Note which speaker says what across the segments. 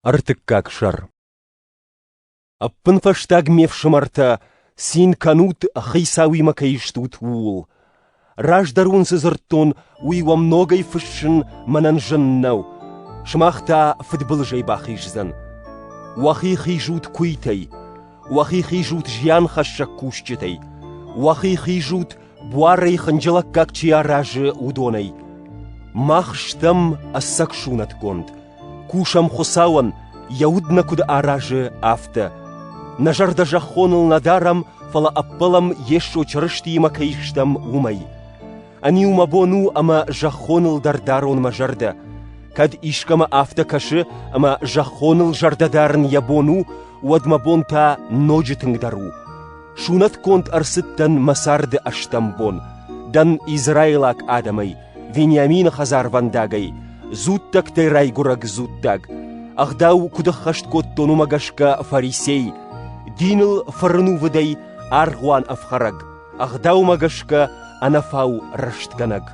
Speaker 1: Ӕртыккаг сӕр Ӕппынфӕстаг, ме фсымӕртӕ, цин кӕнут, хицауимӕ кӕй стут, ууыл. Раздӕр уын цы дзырдтон, уый уӕм ногӕй фыссын мӕнӕн зын нӕу. Сымах та фыдбылызӕй бахиздзӕн. Уӕхи хизут куйтӕй, уӕхи хизут зианхӕссӕг кусджытӕй, уӕхи хизут буарӕй хынджылӕггаг чи аразы, уыдонӕй. Мах стӕм ӕцӕг сунӕтгонд, кусӕм Хуыцауӕн, йӕ уд нӕ куыд аразы, афтӕ. Нӕ зӕрдӕ зӕххоныл нӕ дарӕм, фӕлӕ ӕппӕлӕм, Йесо Чырыстиимӕ кӕй стӕм, уымӕй. Ӕниу мӕ бон у ӕмӕ зӕххоныл дӕр дарон мӕ зӕрдӕ. Кӕд искӕмӕ афтӕ кӕсы, ӕмӕ зӕххоныл зӕрдӕ дарын йӕ бон у, уӕд мӕ бон та ноджы тынгдӕр у. Сунӕтгонд ӕрцыд дӕн мӕ царды ӕстӕм бон. Дӕн израилаг адӕмӕй, Вениамины хӕдзарвӕндагӕй, дзуттӕгтӕй райгурӕг дзуттаг. Ӕгъдау куыд ӕххӕст кодтон уымӕ гӕсгӕ фарисей, диныл фырнувыдӕй аргъуан ӕфхӕрӕг, ӕгъдаумӕ гӕсгӕ ӕнӕфау рӕстгӕнӕг.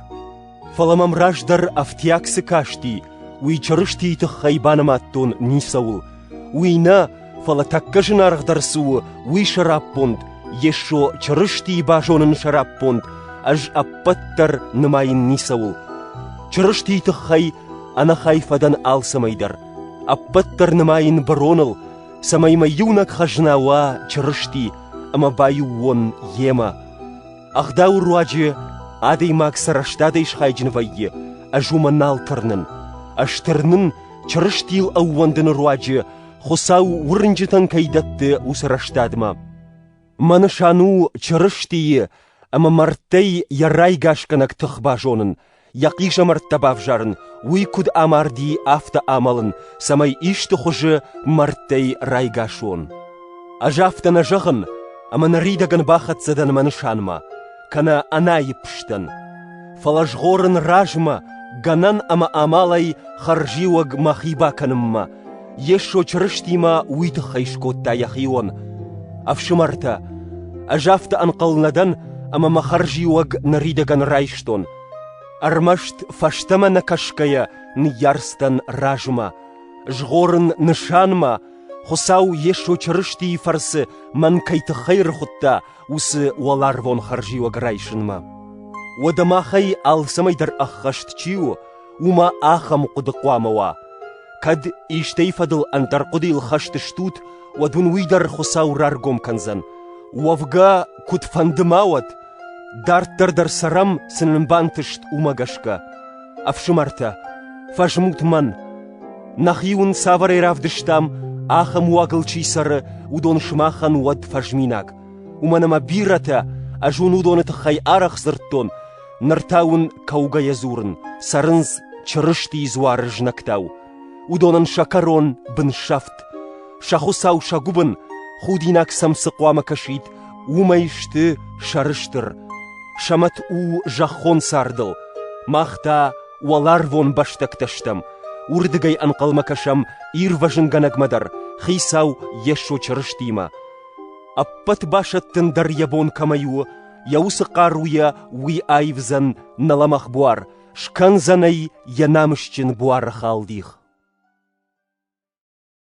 Speaker 1: Фӕлӕ мӕм раздӕр ӕфтиаг цы касти, уый Чырыстийы тыххӕй банымадтон ницӕуыл, уый нӕ, фӕлӕ тӕккӕ зынаргъдӕр цы у, уый сӕраппонд, Йесо Чырыстийы базонын сӕраппонд, ӕз ӕппӕт дӕр нымайын ницӕуыл. Чырыстийы тыххӕй ӕнӕхай фӕдӕн алцӕмӕй дӕр, ӕппӕт дӕр нымайын быроныл, цӕмӕй мӕ иунӕг хӕзна уа Чырысти ӕмӕ баиу уон Йемӕ. Ӕгъдауы руаджы адӕймаг сӕ рӕстадӕй схайджын вӕййы, ӕз уымӕ нал тырнын. Ӕз тырнын, Чырыстийыл ӕууӕндыны руаджы Хуыцау уырнджытӕн кӕй дӕтты, уыцы рӕстадмӕ. Мӕ нысан у Чырыстийы ӕмӕ мӕрдтӕй йӕ райгасгӕнӕг тых базонын, йӕ хъизӕмӕрттӕ бавзарын, уый куыд амарди, афтӕ амӕлын, цӕмӕй исты хуызы мӕрдтӕй райгас уон. Ӕз афтӕ нӕ зӕгъын, ӕмӕ ныридӕгӕн бахӕццӕ дӕн мӕ нысанмӕ, кӕнӕ ӕнаиппстӕн. Фӕлӕ згъорын размӕ, гӕнӕн ӕмӕ амалӕй хӕрзиуӕг мӕхи бакӕнынмӕ, Йесо Чырыстимӕ уый тыххӕй скодта йӕхион. «Ӕфсымӕртӕ, ӕз афтӕ ӕнхъӕл нӕ дӕн, ӕмӕ мӕ хӕрзиуӕг ныридӕгӕн райстон. Ӕрмӕст фӕстӕмӕ нӕ кӕсгӕйӕ ныййарц дӕн размӕ, згъорын нысанмӕ, Хуыцау Йесо Чырыстийы фӕрцы мӕн кӕй тыххӕй рхуыдта, уыцы уӕларвон хӕрзиуӕг райсынмӕ. Уӕдӕ махӕй алцӕмӕй дӕр ӕххӕст чи у, уымӕ ахӕм хъуыды хъуамӕ уа. Кӕд истӕй фӕдыл ӕндӕр хъуыдыйыл хӕст стут, уӕд уын уый дӕр Хуыцау раргом кӕндзӕн. Уӕвгӕ, куыдфӕнды ма уӕд, дарддӕр дӕр цӕрӕм, цы нын бантыст, уымӕ гӕсгӕ. Ӕфсымӕртӕ, фӕзмут мӕн. Нӕхи уын цавӕрӕй равдыстам, ахӕм уагыл чи цӕры, уыдон сымахӕн уӕд фӕзминаг. Уымӕн ӕмӕ бирӕтӕ, ӕз уын уыдоны тыххӕй арӕх дзырдтон, Ныр та уын кӕугӕйӕ дзурын, цӕрынц Чырыстийы дзуары знӕгтау. Уыдонӕн сӕ кӕрон бынсӕфт, сӕ хуыцау сӕ гуыбын, худинаг сӕм цы хъуамӕ кӕсид, уымӕй сты сӕрыстыр, сӕ мӕт у зӕххон цардыл, мах та уӕларвон бӕстӕгтӕ стӕм, уырдыгӕй ӕнхъӕлмӕ кӕсӕм Ирвӕзынгӕнӕгмӕ дӕр, Хицау Йесо Чырыстимӕ. Ӕппӕт басӕттын дӕр йӕ бон кӕмӕй у, йӕ уыцы хъаруйӕ уый аивдзӕн нӕ лӕмӕгъ буар, скӕндзӕн ӕй йӕ намысджын буары халдих.